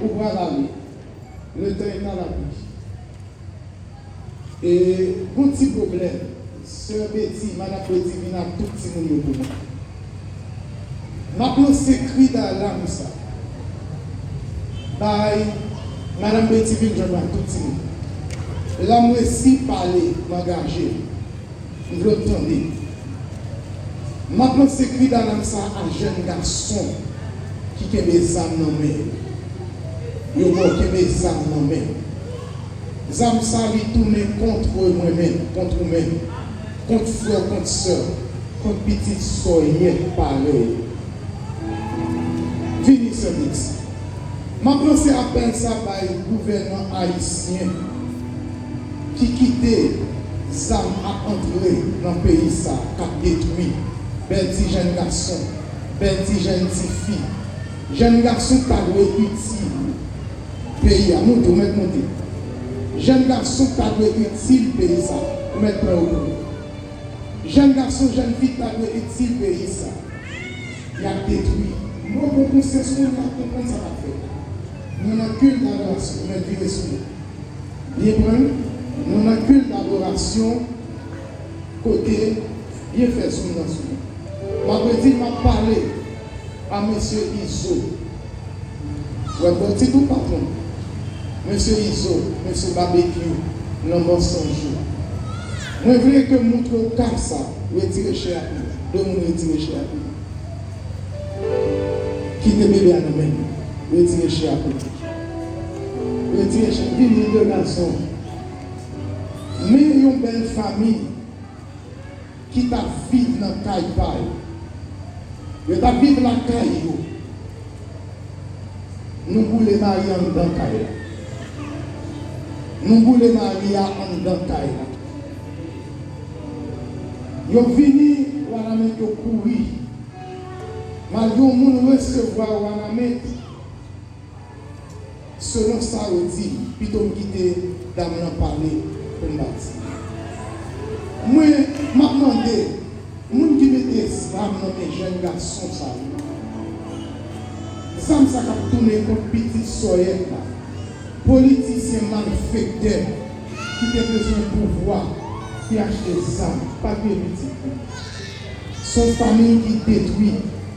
Ou pral ale. Letan e pa lapli. E gon ti pwoblèm. Sè Beti, Madam Beti vin ak tout timoun yo pou mwen. M ap lanse kri dalam sa. Bay Madam Beti vin jwenn m ak tout timoun. La m resi pale, m angaje. Pou yo tande. M ap lanse kri dalam sa a jèn gason ki kenbe zam nan men yo. Yo bon kenbe zam nan men. Zam sa li tounen kontre mwen menm, kont ou menm, kont frè w, kont sè w, kont pitit sòyèt parèy ou. Vini Sèmix. M ap lanse apèl sa bay gouvènan ayisyen. ki kite zam ap antre nan peyi sa kap detwi bèl ti jèn gason, bèl ti jèn ti fi, jèn gason pa dwe itil peyi a moute ou mèt moute jèn gason pa dwe itil peyi sa ou mèt pran yo pou jèn gason jèn fi pa dwe itil peyi sa yap detwi. Mwen pran konsyans moun kap konprann sa kap fèt mwen nan kilta gras ou mèt vire sou yo. Byen mwen, mwen nan kilt adorasyon kote byen fè sou nan sou mwen. Map redi map pale a mesye Izo. Wè bò tit ou patron. Mesye Izo, mesye Babekyou nan mansonj yo. Mwen vle ke moutre ou kap sa retire chè ak li. De moun retire chè ak li. Kite bebe a nan men li. Retire chè ak li. Rete vini de gason. Men yon bèl fami ki t ap viv nan kay pa yo. Yo t ap viv lakay yo. Nou boule mari a anndan kay la. Nou boule mari a anndan kay la. Yo vini Wanament yo kouri. Malgre yon moun resevwa Wanament. Selon sa yo di, pito m kite dam lan pale pou m pa di. Mwen, m ap mande, moun ki mete zam nan men jèn gason sa yo, zam sa k ap tounen kont pitit sòyèt la, politisyen malfektè ki te bezwen pouvwa ki achte zam pa t gen pitit li. S on fanmiy ki detwi.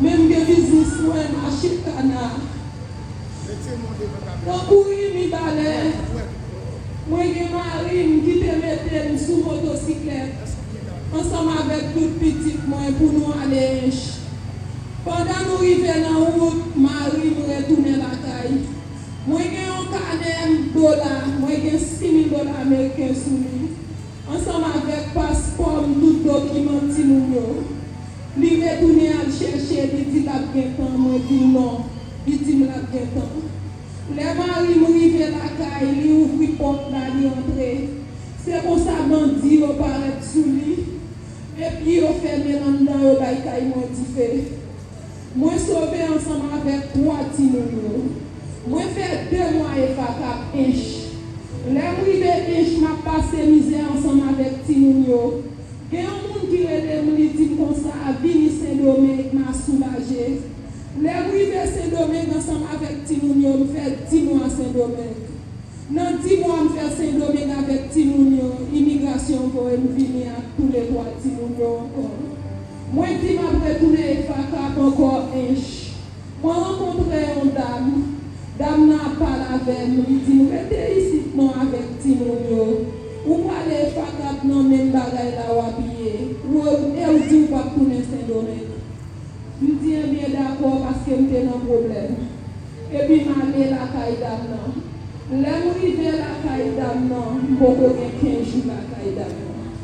Men m gen biznis mwen mache kana nan kouri mibalè mwen gen mari m ki te mete m sou motosiklèt ansanm avèk tout pitit mwen pou nou ale ench pandan nou rive nan wout mari m retounen lakay mwen gen yon kanè m dola mwen gen 6000 dola ameriken sou li ansanm avèk paspò m tout dokiman timoun yo. Li retounen al chèche, li di l ap gen tan, mwen di l non, li di m l ap gen tan. Lè mari m rive lakay, li ouvri pòt la, li antre. Se konsa bandi yo parèt sou li, epi yo fèmen l anndan, yo bay kay mwen dife. Mwen sove ansanm avèk twa timoun yo. Mwen fè de mwa e va kap Ench. Lè m rive Ench, m ap pase mizè ansanm avèk timoun yo. Gen yon moun ki rele m li di m konsa vini sendomeng ma soulaje lè m rive sendomeng ansanm avèk timoun yo m fè di mwa sendomeng nan di mwa m fè sendomeng avèk timoun yo imigrasyon voye m vini ak tou le 3 timoun yo ankò mwen di m ap retounen ekfakap ankò ench. Mwen rankontre yon dam, dam nan ap pale avè m, li di m rete isit non avèk timoun yo, ou prale FACAP nan menm bagay la w ap ye, w e w di w p ap tounen Sendomeng. M di enben dakò paske m te nan pwoblèm. Epi m ale lakay dam nan. Lè m rive lakay dam nan, m poko gen 15 jou lakay dam nan.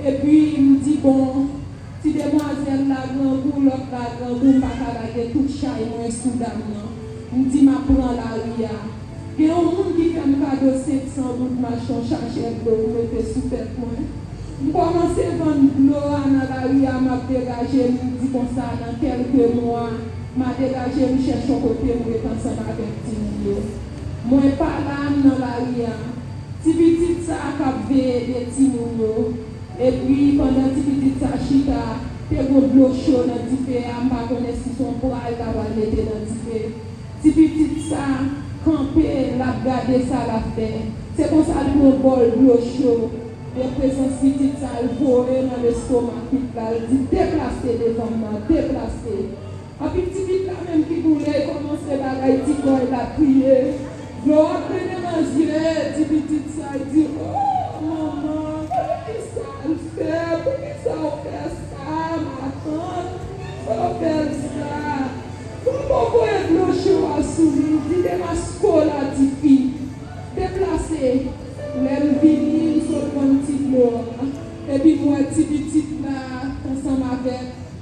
Epi m di bon, Ti demwazel la grangou lot la grangou paka lage tout chay mwen sou dam nan m di map pran lari a gen yon moun ki fem kado 500 goud mach yon chachè dlo m mete sou tet mwen m komanse vann dlo a nan lari a map degaje m di konsa nan kelke mwa ma degaje m chèch yon kote m ret ansanm avek timoun yo mwen pala m nan lari a ti pitit sa kap veye 2 timoun yo. Epi pandan ti pitit sa chita, te gon dlo cho nan dife a, m pa konnen si s on pwa l ta pral mete nan dife. Ti pitit sa kanpe, l ap gade sa l ap fè. Se konsa l pran bòl dlo cho, de prezans pitit sa l voye nan lestomak pit la, l di, Deplase devan m nan, deplase! Api titit la menm ki boule komanse bagay ti kòl la kriye dlo ap trennen nan zye ti pitit sa l di ooh manman gade kisa l fè poukisa w fè sa matant oh bèl sa Bobo voye dlo cho a sou li l di demaske w la tifi deplase lè m vini m sot vann ti dlo a epi m wè ti pitit la t ansanm avèk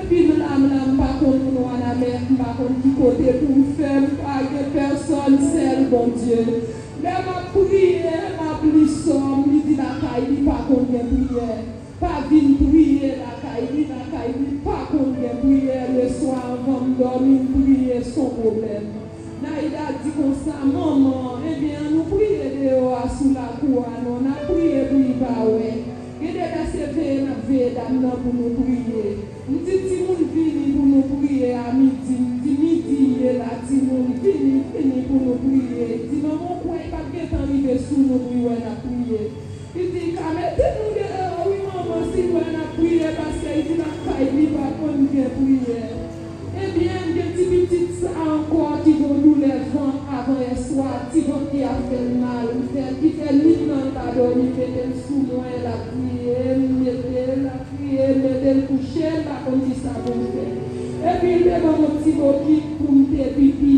Epi m la m la m pa konn moun wanament m pa konn ki kote pou m fè m pa gen pèsòn sèl Bondye lè m ap priye m ap li sòm li di lakay li pa konn gen priyè pa vin priye lakay li lakay li pa konn gen priyè leswa anvan m dòmi m priye s on pwoblèm Naida di konsa manman enben an nou priye deyò a sou lakou a non n ap priye pou li pa wè Gen de lè se veye nap veye dam nan pou nou priye. M di timoun vini pou nou priye a midi, m di midi ye la timoun vini vini pou nou priye, m di manman w kwè i pap gentan rive sou nou pou i wè nap priye. Li di i ka mete nou deyò wi manman si l wè nap priye paske i di nan kay li pa konn gen priyè. Ebyen gen ti pitit sa ankò ki gon doulè vant avan yèswa ti vant ki ap fèl mal m fèl ki fè nwit lan l pa dòmi m metel sou mwen l ap kriye m metel l ap kriye m metel kouche m pa konn kisa pou m fè epi l te banm on ti bokit pou m te pipi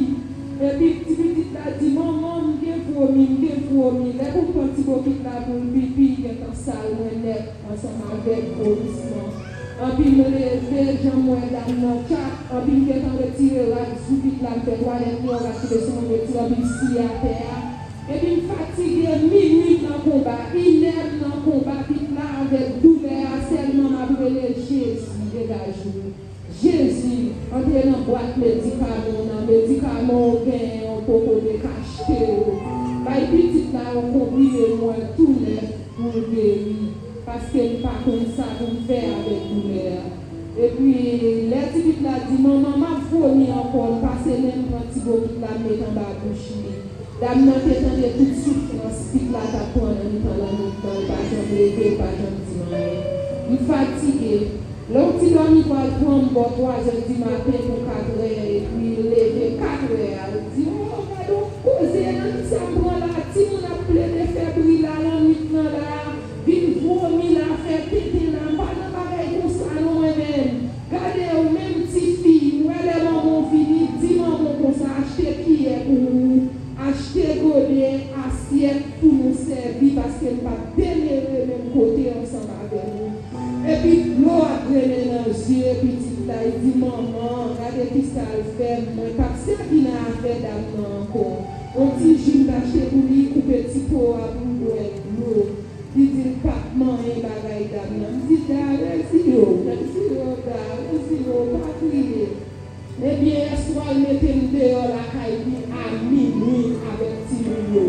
epi ti pitit la di manman m gen vwomi m gen vwomi lè pou m pran ti bokit la pou l pipi gentan sal mwen nèt ansanm avèk vwomisman. Anpi mwen leve janm wè dam nan tchak anpi m gentan retire rad sou pit la m fè twalèt li yon rad tonbe sou mwen m retire anpi m siye atè a epi m fatige minwi m nan konba inè m nan konba pit la avèk doulè a sèlman m ap rele Jezi degaj ou Jezi antre nan bwat medikamon w nan medikamon w genyen w poko dekachte w bay pitit la yon konprime m wè tou nèf pou l geri. paske l pa konn sa pou l fè avèk doulè a. Epi, lè ti pit la di, Manman, m ap vomi ankò, l pase men l pran ti bo pit la l met anba bouch li. Dam nan te tande tout soufrans pit la t ap pran nan mitan lannwit lan, l pa janm leve, l pa janm di m anyen. M fatige. Lè w ti dòmi pral pran m bò twazè dimaten pou katrè, epi l leve katrè a, l di, O, gad on koze lannwit sa m pran la a, timoun ap plede fè bri la lannwit lan la a. Vin vomi la fè tenten la pa nan bagay konsa non mwen menm gade ou menm tifi ou wè lè manmanw vini di manmanw konsa achte kiyè pou ou achte gode asyèt pou nou sèvi paske m pap demere menm kote ansanm avè nou epi dlo ap grennen nan zye pitit la li di manman gade kisal fèm mwen pap sèvi nan afè dam nan ankò on ti ji m t achte pou li koupe ti po a pou l bwè. Yo Li di l pap manyen bagay dam nan m di gare ziro nan ziro gare nan ziro pa kriye ebyen yèswa l mete m deyò lakay li a minwi avèk timoun yo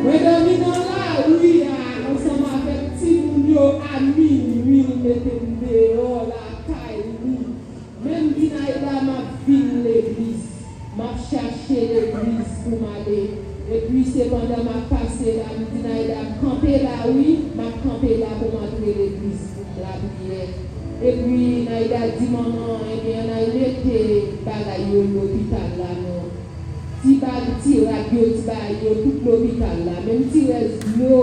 mwen dòmi nan lari a ansanm avèk timoun yo a minwi li mete m deyò lakay li. Menm Dinaida map vin legliz map chache legliz poum ale epi se pandan map pase la m Dinaida kanpe la wi map kanpe la poum antre legliz poum lapriyè epi Naida di manman an ebyen ann al mete bagay yo lopital la nou ti bag ti rad yo t bay yo tout lopital la menm ti rès dlo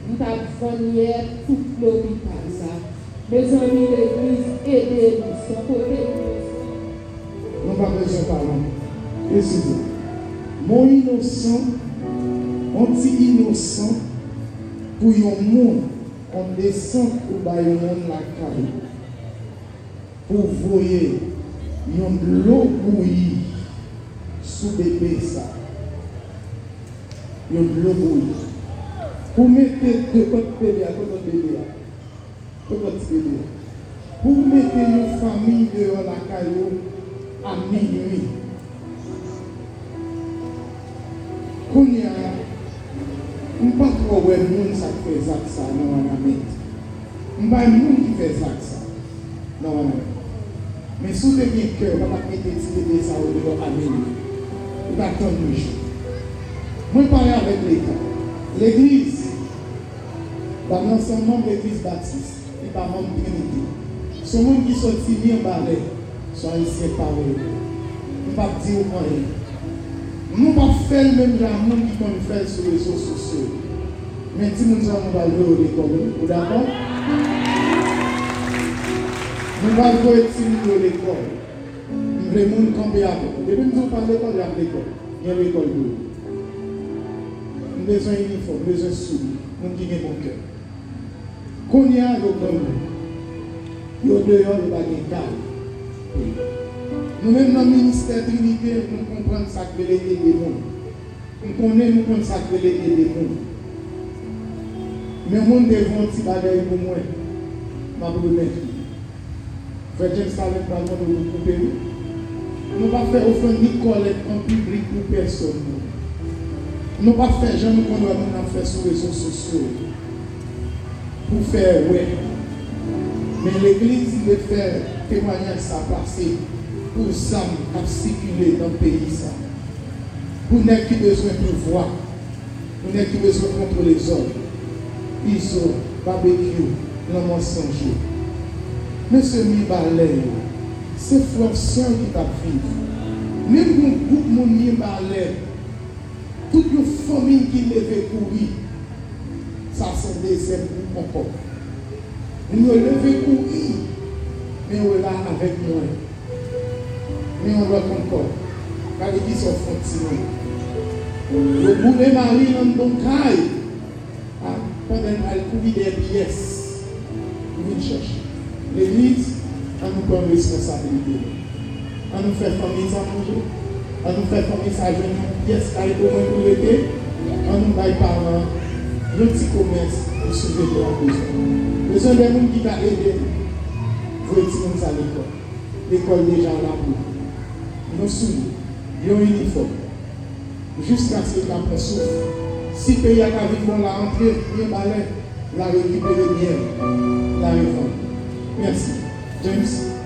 m tap vann yè tout lopital la. Mezanmi legliz ede nou son kote nou ye frèm. Nou pa bezwen pale. Mesi pou. Mon inosan on ti inosan pou yon moun on desant ou bay yon moun lakay ou pou voye yon dlo bouyi sou bebe sa yon dlo bouyi pou mete depan bebe a depan bebe a. Koman ti bebe a. Pou w mete yon famiy deyò lakay ou a minwi. Kounya m pa twò wè moun sa k fè zak sa nan wanament. M bay moun ki fè zak sa nan wanament. Men si w te gen kè ou pa tap mete ti bebe sa yo deyò a minwi. Ou ta tann yon jou. Mwen pale avèk leta, legliz. Dam nan se yon manm legliz batis, li pa manm Trinite. Se yon moun ki soti Mirbalè, sou Ayisyen pare yo. M p ap di ou anyen. Nou p ap fè l menm jan a moun ki konn fè l sou rezo sosyo yo. Men timoun sa yo nou pral voye yo lekòl wi. Ou dakò? Nou pral voye timoun yo lekòl. M vle moun kanpe avè m. Depi m di w pa lekòl, y ap lekòl. Gen lekòl pou yo. M bezwen inifòm, m bezwen souli, moun ki gen bon kè. Kounye a, yo granmoun. Yo deyò, yo pa gen kay pou yo. Nou menm nan ministè Trinite, nou konprann sa k rele ede moun. M konnen nou konn sa k rele ede moun. Yon moun te vle yon ti bagay pou mwen, m ap remèt li. Frè James Talent pral mande w pou koupe wi. Nou pa fè ofrann ni kòlèt an piblik pou pèsòn non. Nou pa fè jan nou konn wè moun ap fè sou rezo sosyo yo pou fè wè. Men legliz dwe fè temwanyaj sa pase pou zam kap sikile nan peyi sa. Pou nèg ki bezwen pouvwa. Pou nèg ki bezwen kontwole zòn. Izo, Babekyou, Lanmò San Jou. Mesye Mibalè yo, se Florcian ki tap viv. Menm yon gwoup moun Mibalè, tout yon fanmiy ki leve kouri. Sa se dezyèm gwoup ankò. Moun yo leve kouri, men yo la avèk mwen. Men yon lòt ankò. Gade ki sa w fè ti moun. Yo boule Marie nan bon kay a pandan l pral kouri dèyè pyès pou vin chèche. Legliz, an nou pran responsabilite nou. An nou fè fanmiy sa manje. An nou fè fanmiy sa jwenn yon pyès kay omwen pou rete. An nou bay paran yon ti komès pou souveni an bezwen. Bezwen de moun ki ka ede nou. Voye timoun sa lekòl. Lekòl deja la pou yo. Nou souliye. Yon inifòm. Jiskaske ka pran souf. Si peyi a ka vin bon la antre byen balè la rekipere byen l la revann. Mèsi. James.